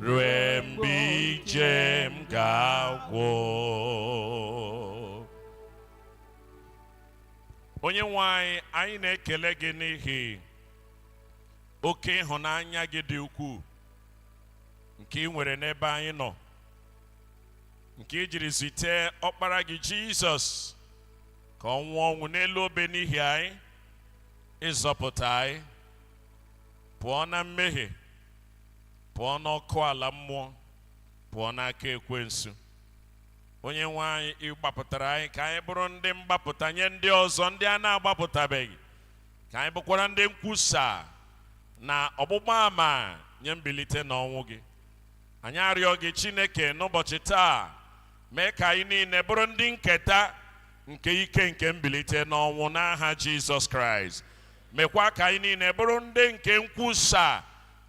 rue mgbe ije m ga-agwụ onye nwe anyị anyị na-ekele gị n'ihi oke ịhụnanya gị dị ukwuu nke ị nwere n'ebe anyị nọ nke i jiri zite ọkpara gị jizọs ka ọ nwụọ ọnwụ n'elu obe n'ihi anyị ịzọpụta anyị pụọ na mmehie pụọ n'ọkụ ala mmụọ pụọ n'aka ekwensu onye nwe anyị ị gbapụtara anyị ka anyị bụrụ ndị mgbapụta nye ndị ọzọ ndị a na-agbapụtabeghị ka anyị bụkwara ndị nkwusa na ọgbụgba ama nye mbilite n'ọnwụ gị anyị arịọ gị chineke n'ụbọchị taa mee ka anyị niile bụrụ ndị nketa nke ike nke mbilite n'ọnwụ n'aha jizọs kraịst mekwa ka anyị niile bụrụ ndị nke nkwusa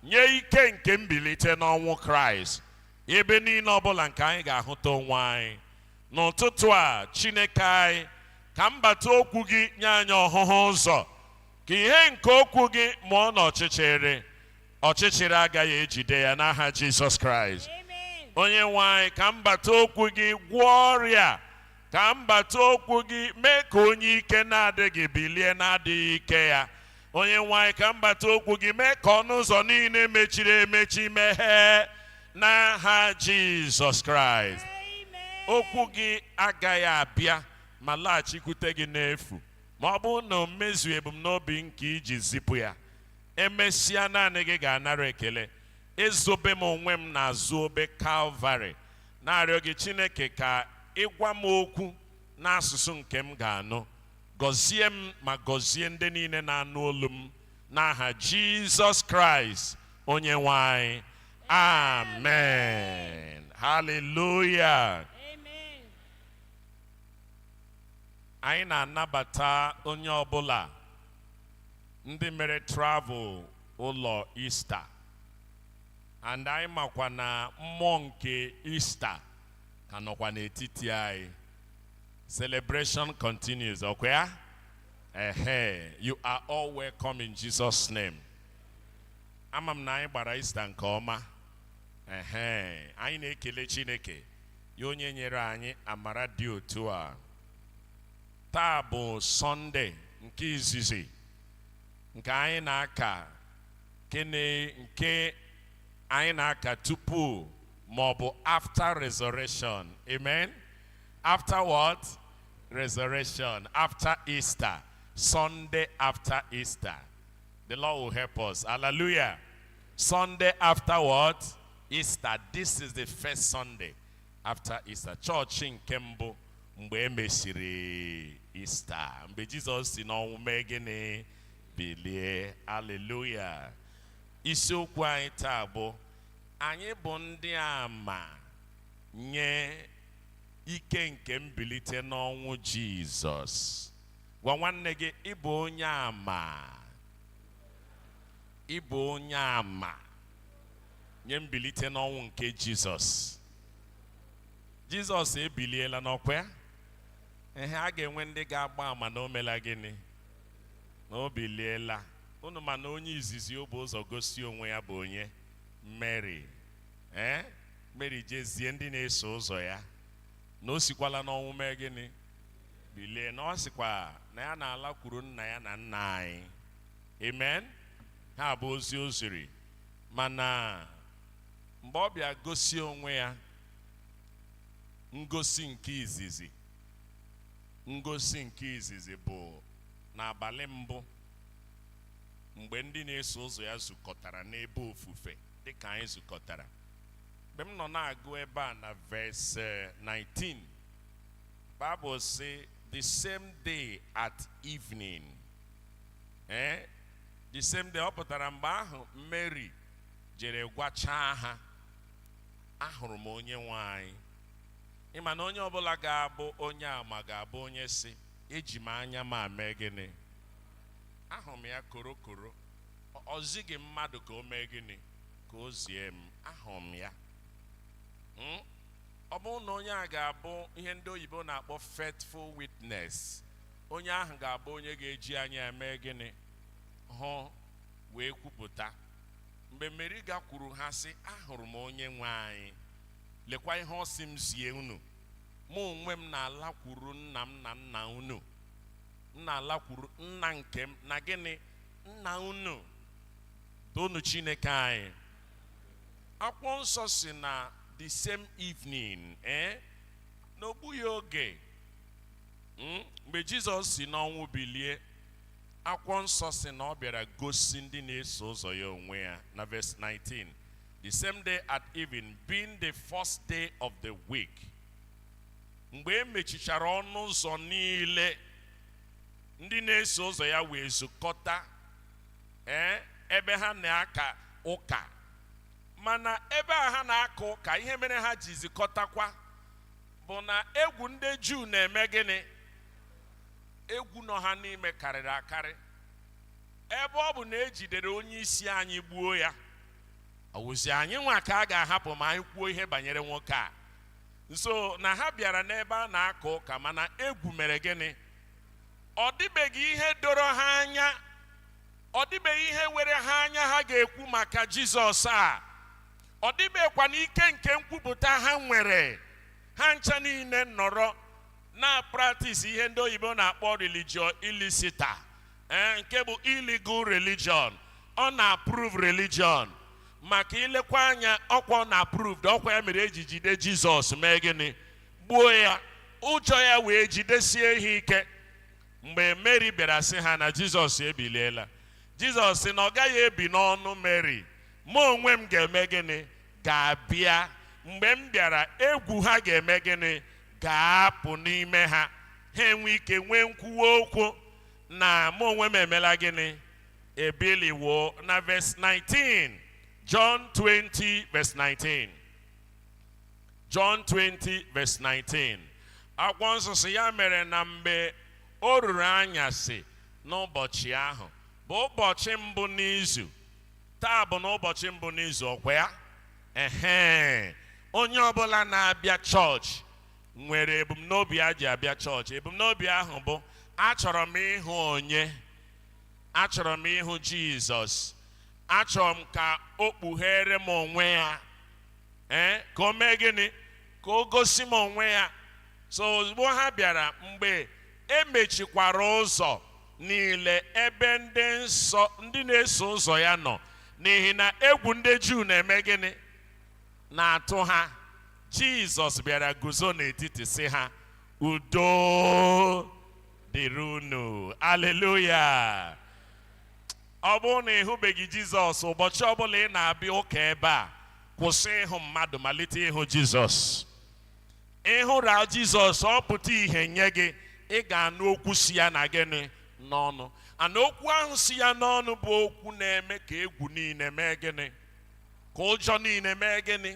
nye ike nke mbilite n'ọnwụ kraịst ebe niile ọbụla nke anyị ga-ahụta onwe anyị n'ụtụtụ a chineke anyị ka mbata okwu gị nye anyị ọhụhụ ụzọ ka ihe nke okwu gị mụọ n'ọchịchịrị ọchịchịrị agaghị ejide ya n'aha jizọs kraịst onye nwe anyị ka mbata okwu gị gwọọ ọrịa Ka mbata okwu gị, mee ka onye ike na-adịghị bilie n'adịghị ike ya. Onye nwe anyị, ka mbata okwu gị, mee ka ọnụ ụzọ niile mechiri emechi meghee n'aha Jizọs Kraịst. Okwu gị agaghị abịa ma laghachikwute gị n'efu ma ọ bụrụ na o mezuo ebumnobi nke i ji zipụ ya emesịa naanị gị ga-anara ekele ezobe m onwe m n'azụ obe kalvarị na-arịọ gị Chineke ka ị gwa m okwu n'asụsụ nke m ga-anụ gọzie m ma gọzie ndị niile na-anụ olu m n'aha Jizọs Kraịst onye nwe anyị amen haleluya Amen. anyị na-anabata onye ọbụla ndị mere travel ụlọ Ista and anyị makwa na mmụọ nke Ista ka nọkwa n'etiti anyị celebration continues ọkwa ya ehe you are all welcome in Jesus name ama m na anyị gbara Ista nke ọma ehe anyị na-ekele Chineke ya onye nyere anyị amara dị otu a taa bụ sọnde nke izizi nke anyị na-aka Gịnị nke anyị na-aka tupu ma ọ bụ after resurrection? Amen. After what? Resurrection. After Easter. Sunday after Easter. The Lord will help us. Hallelujah. Sunday after what? Easter. This is the first Sunday after Easter. Chọọchị nke mbụ mgbe e mesịrị Easter. Mgbe Jizọs si n'ọnwụ mee gịnị? bilie aleluya isiokwu anyị taa bụ anyị bụ ndị ama nye ike nke mbilite n'ọnwụ jizọs gwa nwanne gị ị bụ onye ama ị bụ onye ama nye mbilite n'ọnwụ nke jizọs jizọs ebiliela ọ kwa ya ehe a ga-enwe ndị ga-agba ama na o mela gịnị na o biliela. Unu ma na onye izizi o bu ụzọ gosi onwe ya bụ onye? Meri. Ee, Meri je zie ndị na-eso ụzọ ya na o sikwala n'ọnwụ mee gịnị? Bilie. Na ọ sịkwa na ya na-alakwuru nna ya na nna anyị. Amen. Ha bụ ozi o ziri. Mana mgbe ọ bịa gosi onwe ya ngosi nke izizi Ngosi nke izizi bụ n'abalị mbụ mgbe ndị na-eso ụzọ ya zukọtara n'ebe ofufe dị ka anyị zukọtara. Mgbe m nọ na-agụ ebe a na verse 19, eh, Bible sị the same day at evening. Eh? The same day ọ pụtara mgbe ahụ Mary jere gwachaa ha ahụrụ m onye nwe anyị Ị ma na onye ọbụla ga-abụ onye ama ga-abụ onye sị eji m anya m a mee gịnị ahụrụ m ya koro koro o zighị mmadụ ka o mee gịnị ka o zie m ahụrụ m ya hmm? ọ bụrụ na onye a ga-abụ ihe ndị oyibo na-akpọ faithful witness onye ahụ ga-abụ onye ga-eji anya eme gịnị hụ wee kwupụta mgbe meri gakwuru ha sị ahụrụ m onye nwe anyị Lekwa ihe ọ sị m zie unu, Mụ onwe m na-alakwuru nna m na nna unu, m na-alakwuru nna nke m na gịnị nna unu, toonu Chineke anyị. Akwụkwọ nsọ sị na the same evening, ee eh, na o gbughị oge hmm, mgbe Jizọs si n'ọnwụ bilie akwụkwọ nsọ sị na ọ bịara gosi ndị na-eso ụzọ ya onwe ya na verse 19 the same day at even being the first day of the week mgbe e mechichara ọnụ ụzọ niile ndị na-eso ụzọ ya wee zukọta ee ebe ha na-aka ụka mana ebe a ha na-aka ụka ihe mere ha ji zukọtakwa bụ na egwu ndị juu na-eme gịnị egwu nọ ha n'ime karịrị akarị ebe ọ bụ na e jidere onye isi anyị gbuo ya ọ wụzi anyị nwa ka a ga-ahapụ ma anyị kwuo ihe banyere nwoke a and so na ha bịara n'ebe a na-aka ụka mana egwu mere gịnị ọ dịbeghị ihe doro ha anya ọ dịbeghị ihe were ha anya ha ga-ekwu maka jizọs a ọ dịbeghịkwa na ike nke nkwupụta ha nwere ha ncha niile nọrọ na-apractise ihe ndị oyibo na-akpọ religio illicita ee nke bụ illegal religion unapproved religion maka i lekwa anya ọkwa unapproved ọkwa ya mere e ji jide jizọs mee gịnị gbuo ya ụjọ ya wee jidesie ha ike mgbe mary bịara sị ha na jizọs ebiliela jizọs sị na ọ gaghị ebi n'ọnụ mary mụ onwe m ga-eme gịnị ga-abịa mgbe m bịara egwu ha ga-eme gịnị ga-apụ n'ime ha ha enwe ike nwee nkwuwa okwu na mụ onwe m emela gịnị ebiliwo na verse 19 John 20 verse 19 John 20 verse 19 akwụkwọ nsọ sị ya mere na mgbe o ruru anyasị n'ụbọchị ahụ bụ ụbọchị mbụ n'izu taa bụ n'ụbọchị mbụ n'izu ọkwa ya ehe onye ọbụla na-abịa chọọchị nwere ebumnobi o ji abịa chọọchị ebumnobi ahụ bụ achọrọ m ịhụ onye achọrọ m ịhụ jizọs achọrọ m ka o kpughere m onwe ya ee ka o mee gịnị ka o gosi m onwe ya so ozugbo ha bịara mgbe e mechikwara ụzọ niile ebe ndị nsọ ndị na-eso ụzọ ya nọ n'ihi na egwu ndị juu na-eme gịnị na-atụ ha Jizọs bịara guzo n'etiti sị ha udo dịrị unu aleluya ọ bụrụ na ị hụbeghị Jizọs ụbọchị ọbụla ị na-abịa ụka ebe a kwụsị ịhụ mmadụ malite ịhụ Jizọs ị hụra Jizọs ọ pụta ihe nye gị ị ga-anụ okwu si ya na gịnị n'ọnụ and okwu ahụ si ya n'ọnụ bụ okwu na-eme ka egwu niile mee gịnị ka ụjọ niile mee gịnị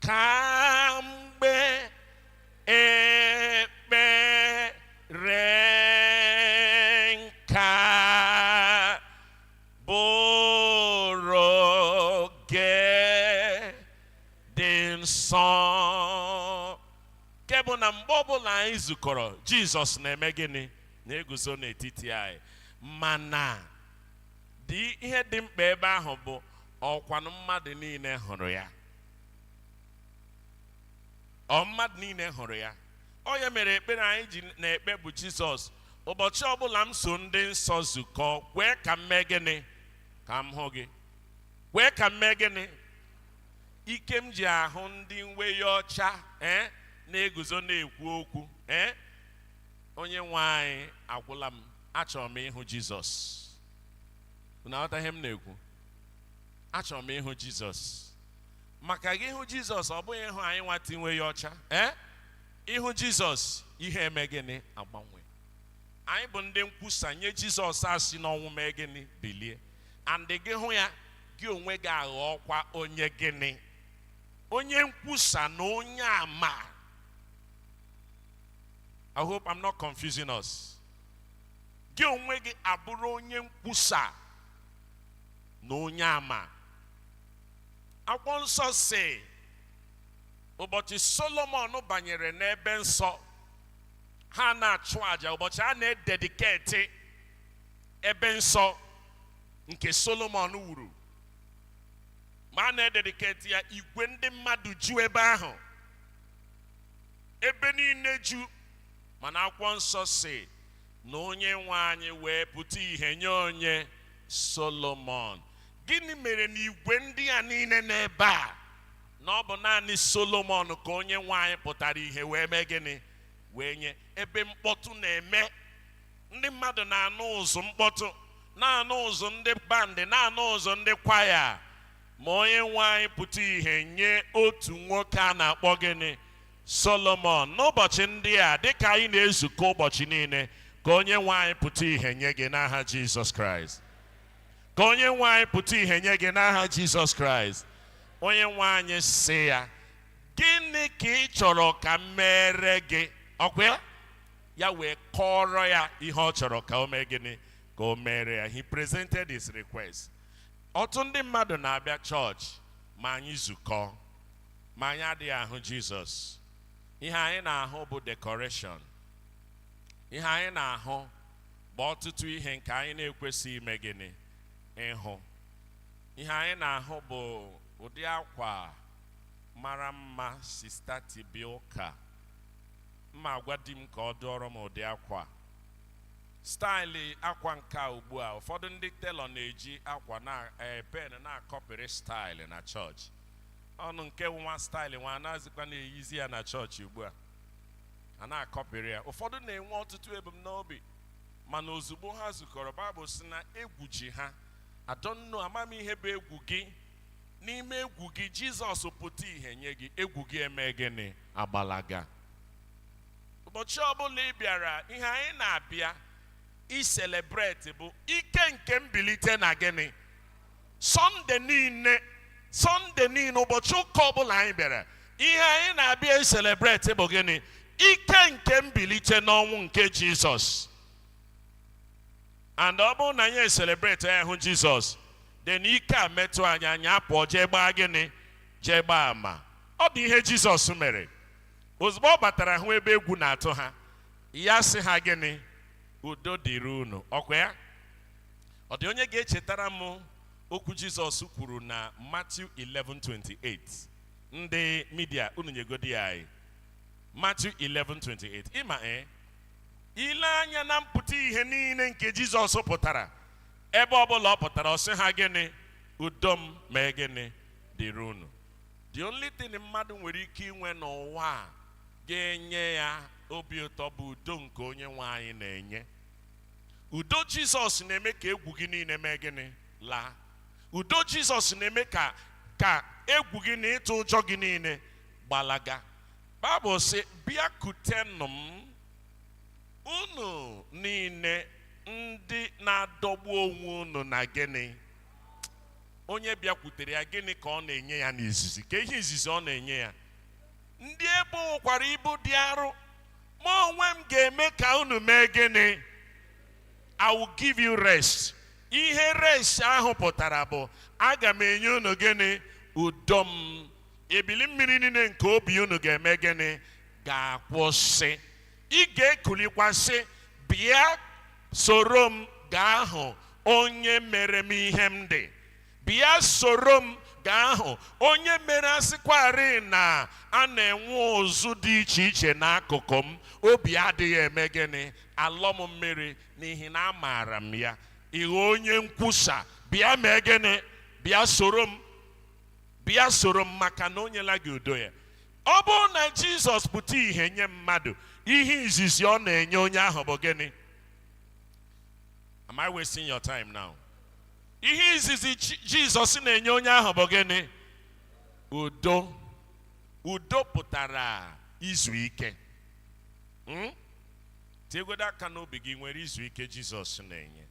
ka mgbe ekpere nka bụrụ oge dị nsọ nke bụ na mgbe ọbụla anyị zukọrọ jizọs na-eme gịnị na-eguzo n'etiti anyị mana dị ihe dị mkpa ebe ahụ bụ ọkwanụ mmadụ niile hụrụ ya ọ mmadụ niile hụrụ ya ọ ya mere ekpere anyị ji na-ekpe bụ jizọs ụbọchị ọbụla m so ndị nsọ zukọ kwee ka m mee gịnị ka m hụ gị kwee ka m mee gịnị ike m ji ahụ ndị uweyi ọcha ee eh, na-eguzo na-ekwu okwu ee eh, onye nwe anyị agwụla m achọrọ m ịhụ jizọs unu aghọta ihe m na-ekwu achọrọ m ịhụ jizọs maka gị hụ jizọs ọ bụghị ịhụ anyịnwa taa yi uweyi ọcha ee ị hụ jizọs ihe eme gịnị agbanwe anyị bụ ndị nkwusa na jizọs esi n'ọnwụ mee gịnị bilie and gị hụ ya gị onwe gị aghọọkwa onye gịnị onye nkwusa na onye ama i hope i'm not confusing us gị onwe gị abụrụ onye nkwusa na onye ama akwụkwọ nsọ sị ụbọchị solomon banyere n'ebe nsọ ha na-achụ àjà ụbọchị a na-edediketi ebe nsọ nke solomon wuru ma a na-edediketi ya igwe ndị mmadụ ju ebe ahụ ebe niile ju mana akwụkwọ nsọ sị na onye nwe anyị wee pụta ihe nye onye Solomon. Gịnị mere na igwe ndị a niile n'ebe a na ọ bụ naanị Solomon ka onye nwe anyị pụtara ihe wee mee gịnị wee nye ebe mkpọtụ na-eme ndị mmadụ na-anụ ụzụ mkpọtụ na-anụ ụzụ ndị bandị na-anụ ụzụ ndị kwaya ma onye nwe anyị pụta ihe nye otu nwoke a na-akpọ gịnị Solomon, n'ụbọchị ndị a, dịka anyị na-ezukọ ụbọchị niile, ka onye nwe anyị pụta ihe nye gị n'aha Jizọs Kraịst. Ka onye nwe anyị pụta ihe nye gị n'aha Jizọs Kraịst. Onye nwe anyị sị ya, gịnị ka ị chọrọ ka m meere gị? Ọkwa ya? Ya wee kọọrọ ya ihe ọ chọrọ ka o mee gịnị ka o meere ya. He presented his request. Ọtụtụ ndị mmadụ na-abịa chọọchị ma anyị zukọọ. ma anyị adịghị ahụ jizọs ihe anyị na-ahụ bụ dekọreshọn ihe anyị na-ahụ bụ ọtụtụ ihe nke anyị na-ekwesịghị ime gịnị ịhụ ihe anyị na-ahụ bụ ụdị akwa mara mma sista ti bịa ụka m ma-agwa di m ka ọ dụọrọ m ụdị akwa staịlị akwa nke a ugbu a ụfọdụ ndị telọ na-eji akwa na eh, pen na-akọpịrị staịlị na chọọchị ọnụ nke wụ nwa staịlị nwa na-azikwa na-eyizi ya na chọọchị ugbu a a na-akọpịrị ya ụfọdụ na-enwe ọtụtụ ebumnobi mana ozugbo ha zukọrọ baịbụl sị na egwu ji ha I don't know amaghị m ihe bụ egwu gị n'ime egwu gị jizọs pụta ihe nye gị egwu gị eme gịnị agbalaga ụbọchị ọbụla ị bịara ihe anyị na-abịa iselebreti bụ ike nke mbilite na gịnị Sọnde niile Sọnde niile ụbọchị ụka ọbụla anyị bịara ihe anyị na-abịa eselebreti bụ gịnị ike nke mbilite n'ọnwụ nke Jizọs and ọ bụrụ na anyị eselebreti ya hụ Jizọs then ike a metụ anyị anyị apụọ jee gbaa gịnị jee gbaa ama ọ bụ ihe Jizọs mere ozugbo ọ batara hụ ebe egwu na-atụ ha ya sị ha gịnị udo dịrị unu ọkwa ya ọ dị onye ga-echetara m okwu jizọs kwuru na Matthew 11:28 ndị midia unu nyegodi ya anyị Matthew 11:28 ị ma ee ị lee anya na mpụta ihe niile nke jizọs pụtara ebe ọbụla ọ pụtara ọ sị ha gịnị udo m mee gịnị dịrị unu the only thing mmadụ nwere ike inwe n'ụwa a ga-enye ya obi ụtọ bụ udo nke onye nwe anyị na-enye udo jizọs na-eme ka egwu gị niile mee gịnị laa udo jizọs na-eme ka ka egwu gị na ịtụ ụjọ gị niile gbalaga baịbụl sị bịakutenụ m unu niile ndị na-adọgbu onwe unu na gịnị onye bịakwutere ya gịnị ka ọ na-enye ya n'izizi kee ihe izizi ọ na-enye ya ndị e bowokwara ibu dị arụ mụ onwe m ga-eme ka unu mee gịnị I will give you rest ihe rest ahụ pụtara bụ aga m enye unu gịnị udo m ebili mmiri niile nke obi unu ga-eme gịnị ga-akwụsị ị ga-ekulikwa sị bịa soro m gaa hụ onye mere m ihe m dị Bịa soro m gaa hụ onye mere asịkwarị na a na-enwe ụzụ dị iche iche n'akụkụ m, obi adịghị eme gịnị? Alọ m mmiri n'ihi na amaara m ya. Ị ghọọ onye nkwusa, bịa mee gịnị? Bịa soro m. Bịa soro m maka na o nyela gị udo ya. Ọ bụrụ na Jizọs pụta ihe nye mmadụ, ihe izizi ọ na-enye onye ahụ bụ gịnị? Am I wasting your time now? ihe izizi jizọs na-enye onye ahụ bụ gịnị udo udo pụtara izu ike hmm? tiegodo aka n'obi gị ị nwere izu ike jizọs na-enye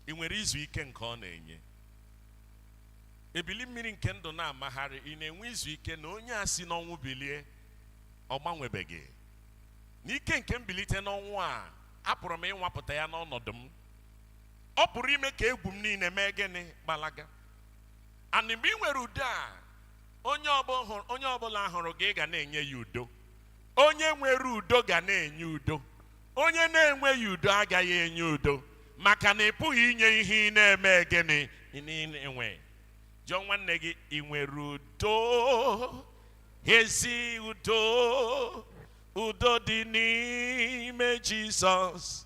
ị nwere izu ike nke ọ na-enye ebili mmiri nke ndụ na-amagharị ị na-enwe izu ike na onye a si n'ọnwụ bilie ọ gbanwebeghị n'ike nke mbilite n'ọnwụ a apụrụ m ịnwapụta ya n'ọnọdụ m ọ pụrụ ime ka egwu m niile mee gịnị gbalaga and mgbe ị nwere udo a onye ọbụ hụrụ- onye ọbụla hụrụ gị ị ga na-enye ya udo onye nwere udo ga na-enye udo onye na-enweghị udo agaghị enye udo maka na ị pụghị inye ihe ị na-eme gịnị ị na-enwe jụọ nwanne gị ị nwere udo ezi udo udo dị n'ime jizọs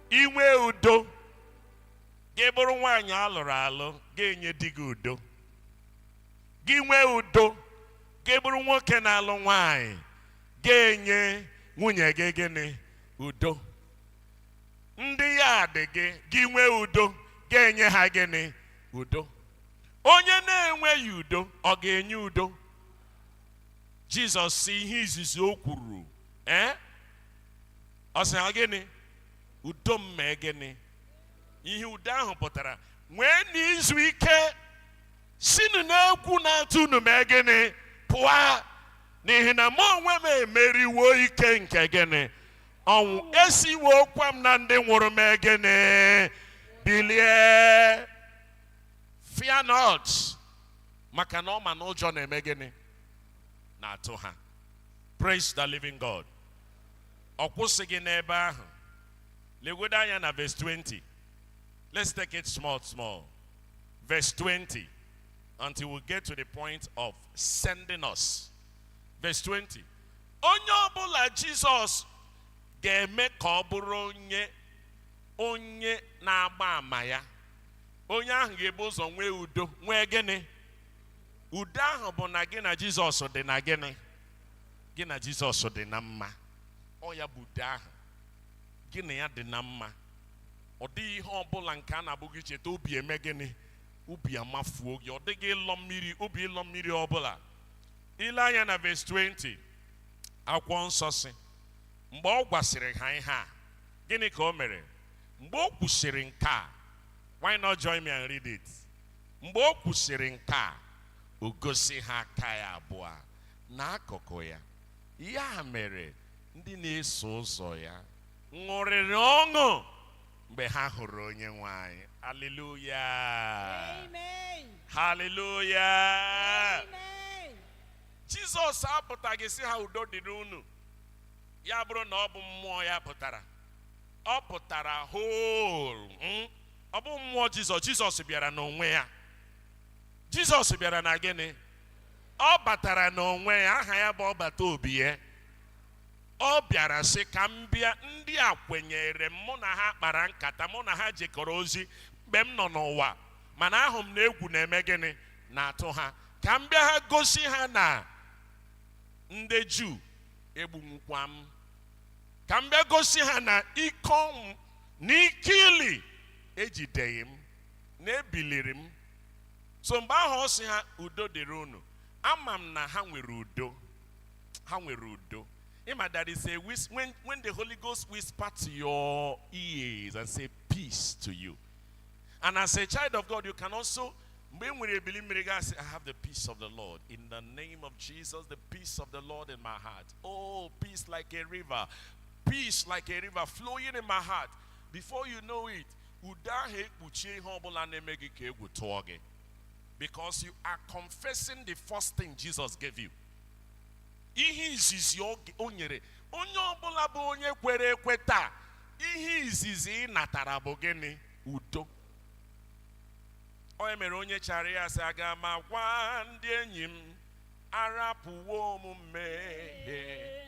ị nwee udo gị bụrụ nwaanyị alụrụ alụ ga-enye di gị udo gị nwee udo gị bụrụ nwoke na-alụ nwaanyị ga-enye nwunye gị gịnị udo ndị yard gị gị nwee udo ga-enye ha gịnị udo onye na-enweghị udo ọ ga-enye udo jizọs sị ihe izizi o kwuru ee ọ sị ha gịnị udo m mee gịnị ihe udo ahụ pụtara nweenụ izu ike sinụ n'egwu na-atụ unu mee gịnị pụwa n'ihi na mụ onwe m emeriwo ike nke gịnị ọnwụ esiwokwa m na ndị nwụrụ mee gịnị bilie fear not maka na ọ ma na ụjọ na-eme gịnị na-atụ ha praise the living god ọ kwụsịghị n'ebe ahụ legodo anya na verse 20 let's take it small small verse 20 until we get to the point of sending us verse 20 onye ọbụla jizọs ga-eme ka ọ bụrụ onye onye na-agba ama ya onye ahụ ga-ebu ụzọ nwee udo nwee gịnị udo ahụ bụ na gị na jizọs dị na gịnị gị na jizọs dị na mma ọ ya bụ udo ahụ gị na ya dị na mma ọ dịghị ihe ọbụla nke a na-abụ gị cheta obi eme gịnị obi amafuo gị ọ dịghị ịlọ mmiri obi ịlọ mmiri ọbụla i lee anya na ves 20 akwụkwọ nsọ sị mgbe ọ gwasịrị ha ihe a gịnị ka o mere mgbe o kwusịrị nke a why not join me and read it mgbe o kwusịrị nke a o gosi ha aka ya abụọ na akụkụ ya. Ya mere, ndị na-eso ụzọ ya ṅụrịrị ọṅụ mgbe ha hụrụ Onyenwe anyị. Haleluya! Amen. Haleluya! Amen. Jizọs apụtaghị sị ha udo dịrị unu ya bụrụ na ọ bụ mmụọ ya pụtara ọ pụtara whole mm? ọ bụ mmụọ Jizọs Jizọs bịara n'onwe ya Jizọs bịara na gịnị ọ batara n'onwe ya aha ya bụ ọbata obie ọ bịara sị ka m bịa ndị a kwenyere m mụ na ha kpara nkata mụ na ha jekọrọ ozi mgbe m nọ n'ụwa mana ahụ m na egwu na-eme gịnị na-atụ ha ka m bịa ha gosi ha na ndị juu egbunwukwa m ka m bịa gosi ha na ike ọnwụ na ike ili ejideghị m na ebiliri m so mgbe ahụ ọ sị ha udo dịrị unu ama m na ha nwere udo ha nwere udo ị ma that is a whis- when, when the holy ghost whisper to your ears and say peace to you and as a child of god you can also mgbe ị nwere ebili mmiri gị asị i have the peace of the lord in the name of jesus the peace of the lord in my heart oh peace like a river peace like a river flowing in my heart before you know it udo ahụ ekpuchie ihe ọbụla na-eme gị ka egwu tụọ gị because you are confessing the first thing Jesus gave you ihe izizi ọ g- o nyere onye ọbụla bụ onye kwere ekwe taa ihe izizi ị natara bụ gịnị udo onye mere onye chara ya sị aga m agwa ndị enyi m arapụwo m mmehie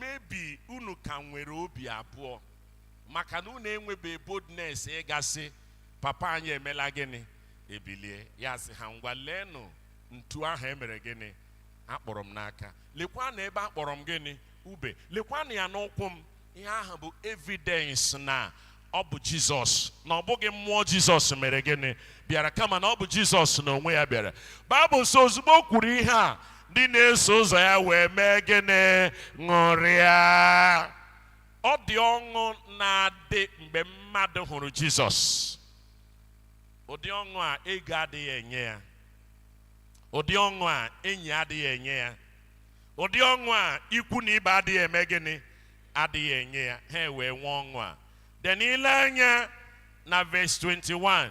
maybe unu ka nwere obi abụọ maka na unu enwebe boldness ịga sị papa anyị emela gịnị ebilie ya sị ha ngwa leenụ ntu ahụ e mere gịnị a kpọrọ m n'aka lekwa na ebe a kpọrọ m gịnị ube lekwa na ya n'ụkwụ m ihe ahụ bụ evidence na ọ bụ jizọs na ọ bụghị mmụọ jizọs mere gịnị bịara kama na ọ bụ jizọs na onwe ya bịara baịbụl sị ozugbo o kwuru ihe a ndị na-eso ụzọ ya wee mee gịnị ṅụrịa ọ dị ọṅụ na-adị mgbe mmadụ hụrụ jizọs ụdị ọṅụ a ego adịghị enye ya ụdị ọṅụ a enyi adịghị enye ya ụdị ọṅụ a ikwu na ibe adịghị eme gịnị adịghị enye ya ha wee nwee ọṅụ a then i lee anya na verse 21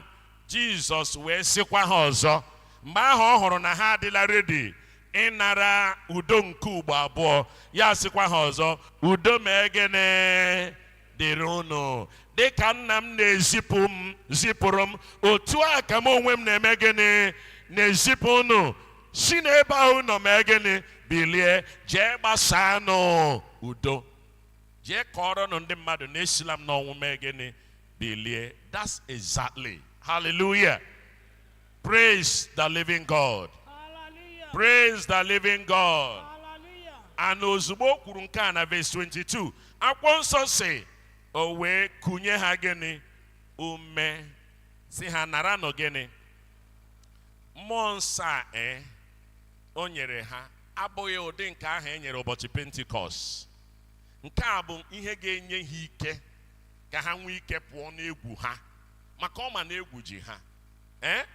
jizọs wee sịkwa ha ọzọ mgbe ahụ ọ hụrụ na ha adịla redi ịnara udo nke ugbo abụọ ya sịkwa ha ọzọ udo mee gịnị dịrị unu dịka nna m na-ezipụ m zipụrụ m otu a ka m onwe m na-eme gịnị na-ezipụ unu si n'ebe ahụ nọ mee gịnị bilie jee gbasaanụ udo jee kọọrọnụ ndị mmadụ na esila m n'ọnwụ mee gịnị bilie that's exactly hallelujah praise the living god Hallelujah. praise the living god Hallelujah. and ozugbo o kwuru nke a na verse 22 akwụkwọ nsọ sị o wee kunye ha gịnị ume sị ha naranụ gịnị mmụọ nsọ a ee o nyere ha abụghị ụdị nke ahụ e nyere ụbọchị pentikọst nke a bụ ihe ga-enye ha ike ka ha nwee ike pụọ n'egwu ha maka ọ ma na egwu ji ha ee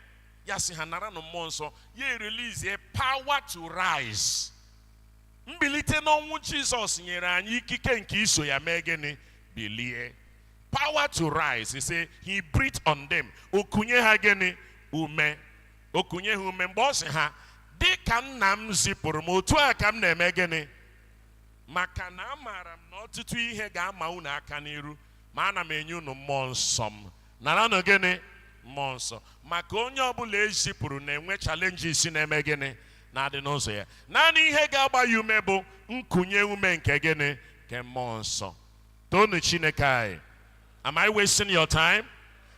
ya sị ha naranụ mmụọ nsọ ya erelizie power to rise mbilite n'ọnwụ jizọs nyere anyị ikike nke iso ya mee gịnị bilie power to rise he say he breathed on them o kunye ha gịnị ume o kunye ha ume mgbe ọ sị ha dị ka nna m zipụrụ m otu a ka m na-eme gịnị maka na amaara m na ọtụtụ ihe ga-ama unu aka n'iru ma ana m enye unu mmụọ nsọ m naranụ gịnị mmụọ nsọ maka onye ọbụla e zipụrụ na-enwe challenges na-eme gịnị na-adị n'ụzọ ya naanị ihe ga-agba ya ume bụ nkunye ume nke gịnị nke mmụọ nsọ Toonụ Chineke anyị. Am I wasting your time?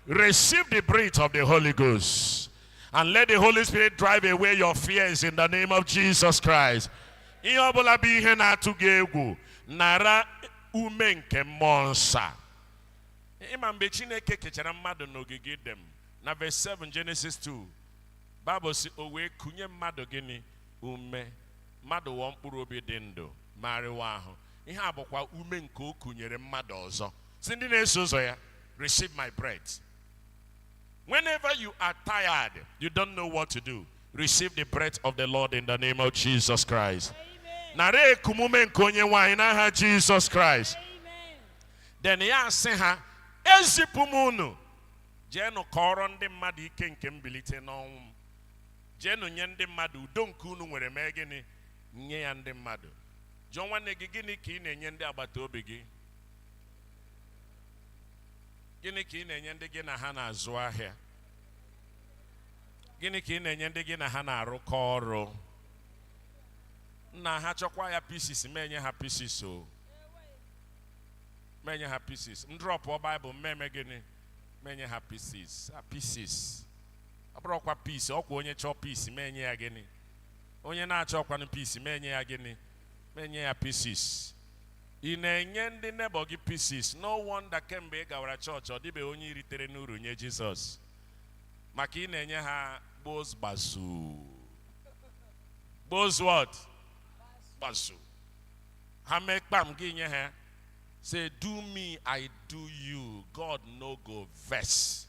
Receive the breath of the Holy Ghost. And let the Holy Spirit drive away your fears in the name of Jesus Christ. Ihe ọ bụla bụ ihe na-atụ gị egwu nara ume nke mmụọ nsọ a. Ị ma mgbe Chineke kechara mmadụ n'ogige Iden na verse 7 Genesis 2 Bible sị o wee kunye mmadụ gịnị ume mmadụ wụọ mkpụrụ obi dị ndụ ma arịwa ahụ ihe a bụkwa ume nke o kunyere mmadụ ọzọ sị ndị na-eso ụzọ ya receive my breath whenever you are tired you don't know what to do receive the breath of the lord in the name of jesus christ nara ekumume nke onye nwe anyị n'aha jesus christ then ya asị ha ezipụ m unu jeenụ kọọrọ ndị mmadụ ike nke mbilite n'ọnwụ m jeenụ nye ndị mmadụ udo nke unu nwere mee gịnị nye ya ndị mmadụ jụọ nwanne gị gịnị ka ị na-enye ndị agbata obi gị gịnị ka ị na-enye ndị gị na ha na-azụ ahịa gịnị ka ị na-enye ndị gị na ha na-arụkọ ọrụ nna ha chọkwa ya pieces ma enye ha pieces o ma enye ha pieces m drọpụọ baịbụl m eme gịnị ma enye ha pieces a pieces ọ bụrọkwa peace ọkwa onye chọọ peace ma enye ya gịnị onye na-achọọkwanụ peace ma enye ya gịnị ma enye ya pieces ị na-enye ndị nebọ gị pieces no wonder kemgbe ị gawara chọọchị ọ dịbeghị onye i ritere n'uru nye jizọs maka ị na-enye ha gbos gbazu gbos what gbazu ha mee kpam gị enye ha say do me i do you god no go vex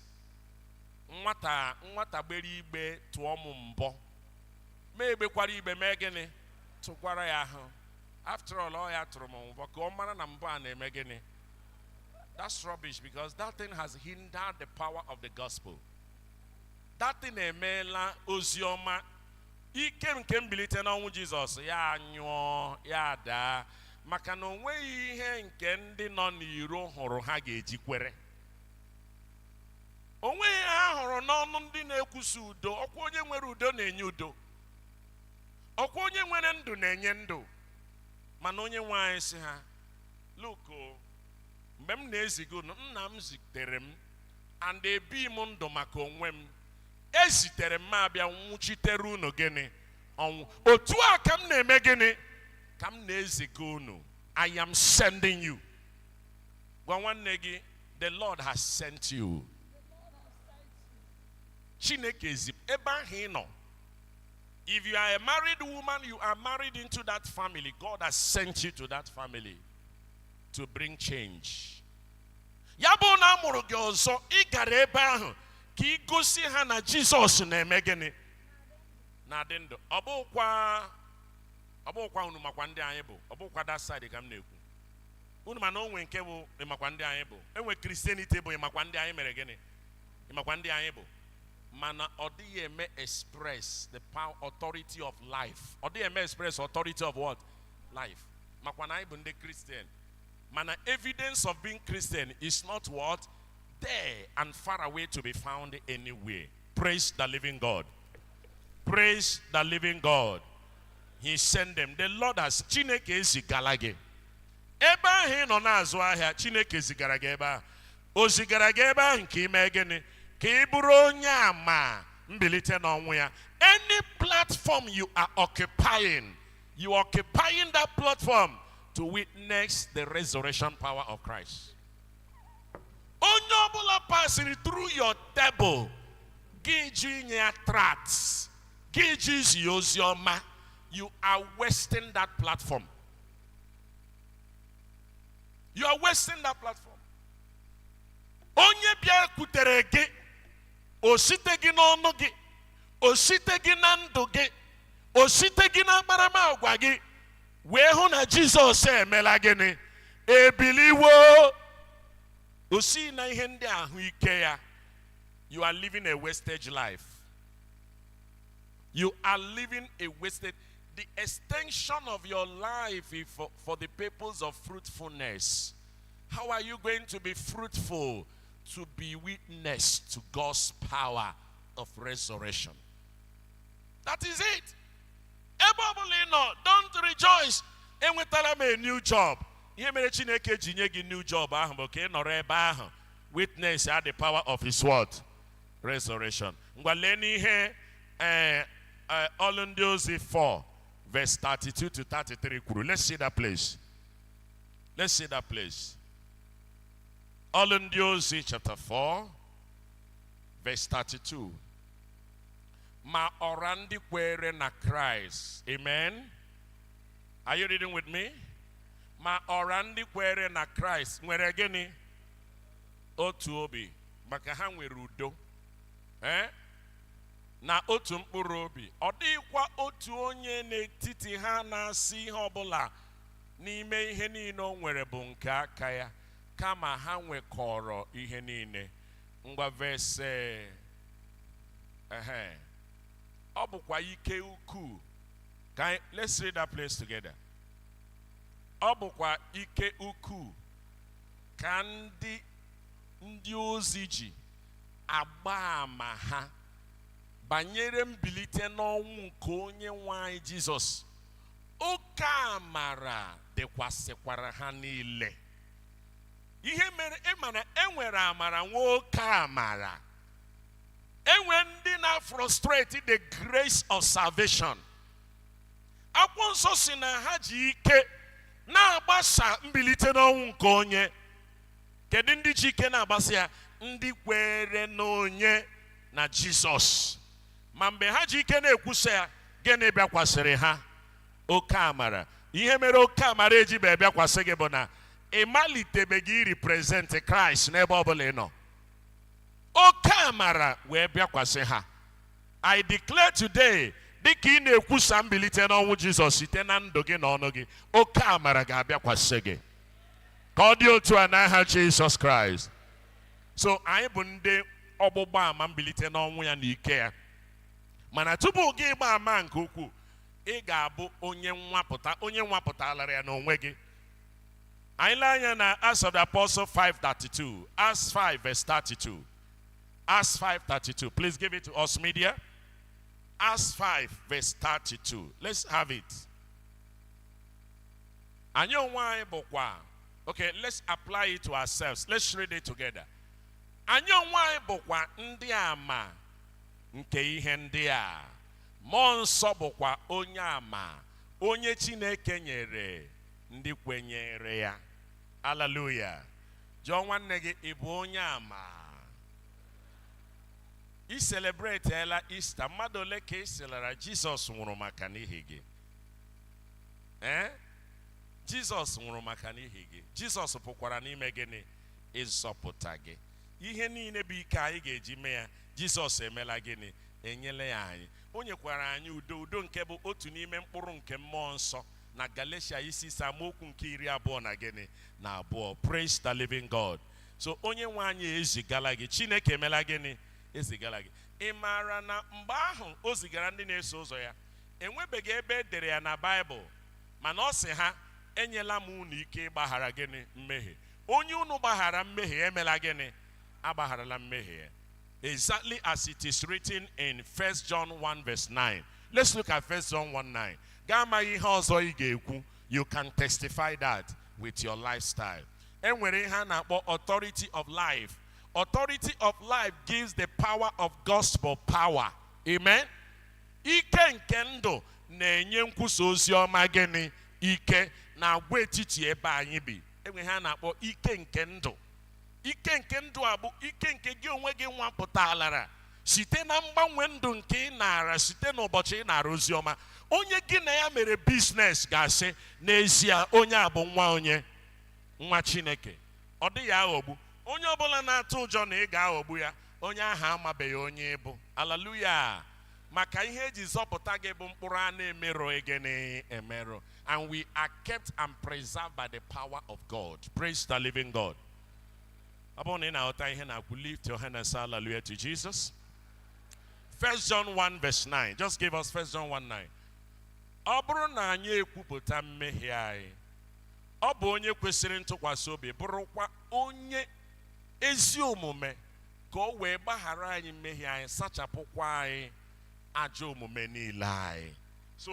nwata nwata gbere igbe tụọ m mbọ m egbekwara igbe mee gịnị tụgwara ya ahụ after all ọ ya tụrụ m mbọ ka ọ mara na mbọ a na-eme gịnị that's rubbish because that thing has hindered the power of the gospel that thing emeela ozi ọma ike nke mbilite n'ọnwụ jizọs ya anyụọ ya adaa maka na o nweghị ihe nke ndị nọ n'iro hụrụ ha ga-eji kwere o nweghị ihe ha hụrụ n'ọnụ ndị na-ekwusa udo ọkwa onye nwere udo na-enye udo ọkwa onye nwere ndụ na-enye ndụ mana onye nwe anyị sị ha look mgbe m na-eziga unu nna m zitere m and ebi m ndụ maka onwe m e zitere m m abịa nwụchitere unu gịnị ọnwụ otu a ka m na-eme gịnị ka m na-eziga unu i am sending you gwa nwanne gị the lord has sent you chineke ezipụ ebe ahụ ị nọ if you are a married woman you are married into that family god has sent you to that family to bring change ya bụrụ na a mụrụ gị ọzọ ị gara ebe ahụ ka ị gosi ha na jizọs na-eme gịnị na-adị ndụ ọ bụkwa ọ bụkwa unu makwa ndị anyị bụ ọ bụkwa that side ka m na-ekwu unu ma na o nwe nke bụ ịmakwa ndị anyị bụ e nwe christianity bụ ịmakwa ndị anyị mere gịnị ịmakwa ndị anyị bụ mana ọ dịghị eme express the power authority of life ọ dịghị eme express authority of what life makwa na anyị bụ ndị kristian mana evidence of being christian is not what there and far away to be found anywhere Praise the living God. Praise the living God. He sent them. The Lord has Chineke ezigala gị. Ebe ahụ ị nọ na-azụ ahịa, Chineke zigara gị ebe ahụ. O zigara gị ebe ahụ nke ime gịnị? Ka ị bụrụ onye ama mbilite n'ọnwụ ya. Any platform you are occupying, you are occupying that platform to witness the resurrection power of Christ. onye ọbụla pasịrị through your table gị jụ inye ya tract gị jụ izi ya ozi ọma you are wasting that platform you are wasting that platform onye bịakwutere gị o siteghị n'ọnụ gị o siteghị na ndụ gị o siteghị n'akparamagwa gị wee hụ na jizọs emela gịnị ebiliwo o si na ihe ndị ahụ ike ya you are living a wasted life you are living a wasted the extension of your life is for, for the purpose of fruitfulness how are you going to be fruitful to be witness to god's power of resurrection that is it ebe ọ bụla ị nọ don't rejoice enwetala m a new job ihe mere chineke ji nye gị new job ahụ bụ ka ị nọrọ ebe ahụ witnessịa the power of his what resurrection ngwa leenụ ihe ee ọlụ ndị ozi 4 verse 32 to 33 kwuru let's see that place let's see that place ọlụ ndị ozi chapter 4 verse 32 ma ọra ndị kwere na kraịst amen are you reading with me ma ọra ndị kwere na kraịst nwere gịnị otu obi maka ha nwere udo ee na otu mkpụrụ obi ọ dịghịkwa otu onye n'etiti ha na-asị ihe ọbụla n'ime ihe niile o nwere bụ nke aka ya kama ha nwekọrọ ihe niile ngwa verse ehe ọ bụkwa ike ukwuu ka anyị let's read that place together ọ bụkwa ike ukwuu ka ndị ndị ozi ji agba ama ha banyere mbilite n'ọnwụ nke onye nwe anyị jizọs oke amara dịkwasịkwara ha niile ihe mere ị ma na e nwere amara nwee oke amara e nwere ndị na-afrustrate the grace of salvation akwụkwọ nsọ sị na ha ji ike na-agbasa mbilite n'ọnwụ nke onye kedu ndị ji ike na-agbasa ya ndị kwere n'onye na jizọs ma mgbe ha ji ike na-ekwusa ya gịnị bịakwasịrị ha oke amara ihe mere oke amara ejibe bịakwasị gị bụ na ị malitebeghị irepresent kraịst n'ebe ọ bụla ị nọ oke amara wee bịakwasị ha i declare today dịka ị na-ekwusa mbilite n'ọnwụ jizọs site na ndụ gị na ọnụ gị oke amara ga-abịakwasị gị ka ọ dị otu a n'aha jizọs kraịst so anyị bụ ndị ọgbụgba ama mbilite n'ọnwụ ya na ike ya mana tupu gị ịgba ama nke ukwuu ị ga-abụ onye nwapụta onye nwapụtalara ya n'onwe gị anyị lee anya na Acts of the Apostle 5:32 Acts 5 verse 32 Acts 5:32 please give it to us media Acts 5 verse 32 let's have it anyị onwe anyị bụkwa okay let's apply it to ourselves let's read it together anyị onwe anyị bụkwa ndị ama nke ihe ndị a mmụọ nsọ bụkwa onye ama onye chineke nyere ndị kwenyere ya aleluya jụọ nwanne gị ị bụ onye ama i celebratela Easter mmadụ ole ka ị sịlara jizọs nwụrụ maka n'ihi gị ee jizọs nwụrụ maka n'ihi gị jizọs pụkwara ime gịnị ịzọpụta gị ihe niile bụ ike anyị ga-eji mee ya jizọs emela gịnị enyela ya anyị o nyekwara anyị udo udo nke bụ otu n'ime mkpụrụ nke mmụọ nsọ na Galatia isi ise amaokwu nke iri abụọ na gịnị na abụọ praise the living God so onye nwe anyị ezigala gị Chineke emela gịnị ezigala gị ị maara na mgbe ahụ o zigara ndị na-eso ụzọ ya enwebeghị ebe e dere ya na Baịbụl mana ọ sị ha enyela m unu ike ịgbaghara gịnị mmehie onye unu gbaghara mmehie emela gịnị agbagharala mmehie ya exactly as it is written in 1 John 1 verse 9 let's look at 1 John 1 9 Gị amaghị ihe ọzọ ị ga-ekwu. You can testify that with your lifestyle. E nwere ihe a na-akpọ authority of life. Authority of life gives the power of gospel power. Amen. Ike nke ndụ na-enye nkwusa ozi ọma gịnị ike n'agwaetiti ebe anyị bi. E nwere ihe a na-akpọ ike nke ndụ. Ike nke ndụ a bụ ike nke gị onwe gị nwapụtalara site na mgbanwe ndụ nke ị naara site n'ụbọchị ị naara ozi ọma onye gị na ya mere biznes ga-asị n'ezie onye a bụ nwa onye nwa chineke ọ dịghị aghọgbu onye ọbụla na-atụ ụjọ na ị ga-aghọgbu ya onye ahụ amabeghị onye ị bụ aleluya maka ihe e ji zọpụta gị bụ mkpụrụ a na-emerụ gịnị emerụ and we are kept and preserved by the power of God praise the living God ọ bụrụ na ị na-aghọta ihe m na-ekwu lift your hand and say hallelujah to Jesus. First John 1 verse 9. Just give us First John 1 9. Ọ bụrụ na anyị ekwupụta mmehie anyị, ọ bụ onye kwesịrị ntụkwasị obi bụrụkwa onye ezi omume ka o wee gbaghara anyị mmehie anyị sachapụkwa anyị ajọ omume niile anyị. So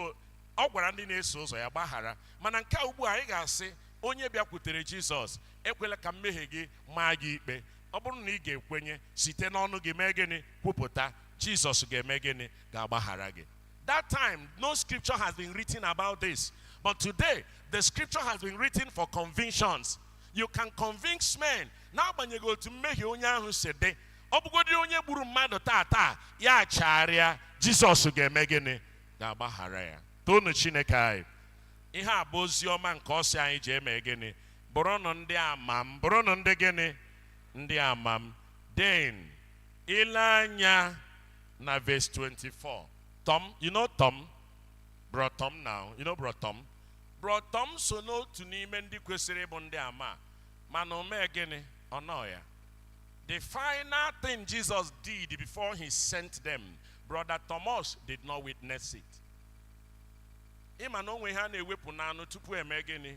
ọ gwara ndị na-eso ụzọ ya gbaghara mana nke a ugbu a anyị ga-asị onye bịakwutere Jizọs ekwela ka mmehie gị maa gị ikpe ọ bụrụ na ị ga-ekwenye site n'ọnụ gị mee gịnị kwupụta jizọs ga-eme gịnị ga-agbaghara gị that time no scripture has been written about this but today the scripture has been written for convictions you can convince men n'agbanyeghị otu mmehie onye ahụ si dị ọ bụgodị onye gburu mmadụ taa taa ya chegharịa jizọs ga-eme gịnị ga-agbaghara ya toonu chineke anyị ihe a bụ ozi ọma nke ọ sị anyị jee mee gịnị Bụrụnụ ndị ama m. Bụrụnụ ndị gịnị? Ndị ama m. Then, ile anya na verse 24. Tom, you know Tom? Bro Tom now. You know Bro Tom? Bro Tom so n'otu n'ime ndị kwesịrị ịbụ ndị ama mana o mee gịnị? Ọ nọ ya. The final thing Jesus did before he sent them, brother Thomas did not witness it. Ị ma na o nwe ihe a na-ewepụ n'anụ tupu e mee gịnị?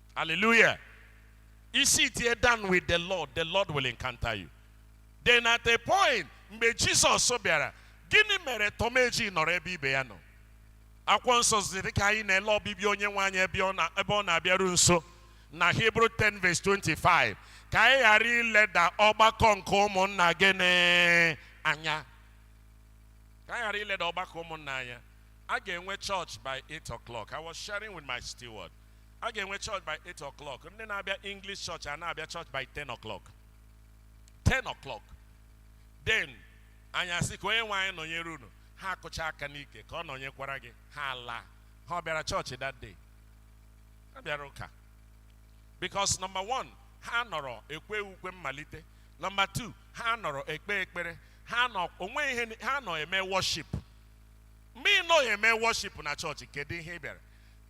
Hallelujah. You sit down with the Lord. The Lord will encounter you. Then at a point, mgbe Jizọs bịara, gịnị mere Tom eji nọrọ ebe ibe ya nọ? Akwụkwọ nsọ sị dịka anyị na-ele ọbịbịa onye nwe anyị ebe ọ na- ebe ọ na-abịaru nso na Hebrew 10 verse 25 ka anyị ghara ileda ọgbakọ nke ụmụnna gịnị anya ka anyị ghara ileda ọgbakọ ụmụnna anya a ga-enwe church by 8 o'clock i was sharing with my steward a ga-enwe church by 8 o'clock ndị na-abịa english church a na-abịa church by 10 o'clock 10 o'clock then anyị asị ka onye nwe anyị nọnyere unu ha akụchaa aka n'ike ka ọ nọnyekwara gị ha alaa ha ọ bịara chọọchị that day ha abịarọ ụka because number one ha anọrọ ekwe ukwe mmalite number two ha anọrọ ekpe ekpere ha nọ onwe ihe ni- ha nọ eme worship mgbe ị nọghị eme worship na chọọchị kedu ihe ị bịara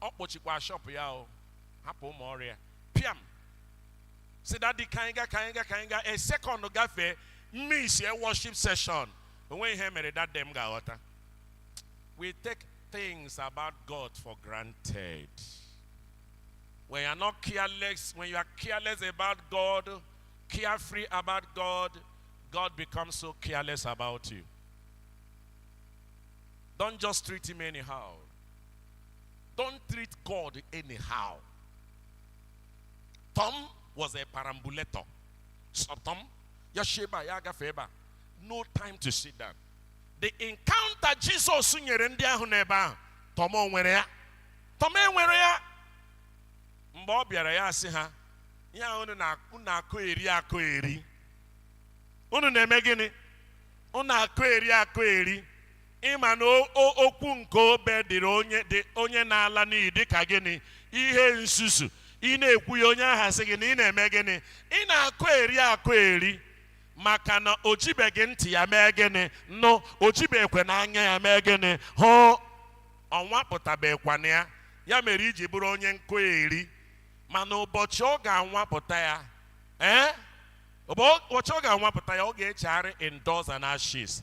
ọ kpọchikwa shọpụ ya ọ hapụ ụmụ ọrụ ya pịam sị dadi ka anyị ga ka anyị ga ka anyị ga a second gafee miss e worship session o nweghị ihe mere dadi m ga-aghọta we take things about God for granted when you are not careless when you are careless about God carefree about God God becomes so careless about you don't just treat him anyhow Don't treat God anyhow. Tom was a perambulator. So Tom, ya si ebe a, ya agafe ebe a, no time to sit down. The encounter Jesus nyere ndị ahụ n'ebe ahụ, Tom o nwere ya. Tom enwerọ ya. Mgbe ọ bịara ya sị ha, ihe ahụ unu na- unu akọgheri akọgheri. Unu na-eme gịnị? Unu akọgheri akọgheri. Ị ma na okwu nke obe dịrị onye na-ala n'iyi dịka gịnị ihe nzuzu ị na-ekwu ya onye ahụ asị gị na ị na-eme gịnị ị na-akọgheri akọgheri maka na o jibeghị ntị ya mee gịnị nụ o jibekwena anya ya mee gịnị hụ ọ nwapụtabekwana ya ya mere i ji bụrụ onye nkọgheri mana ụbọchị ọ ga-anwapụta ya ee eh? ụbọchị ọ ga-anwapụta ya ọ ga-echegharị in dust and ashes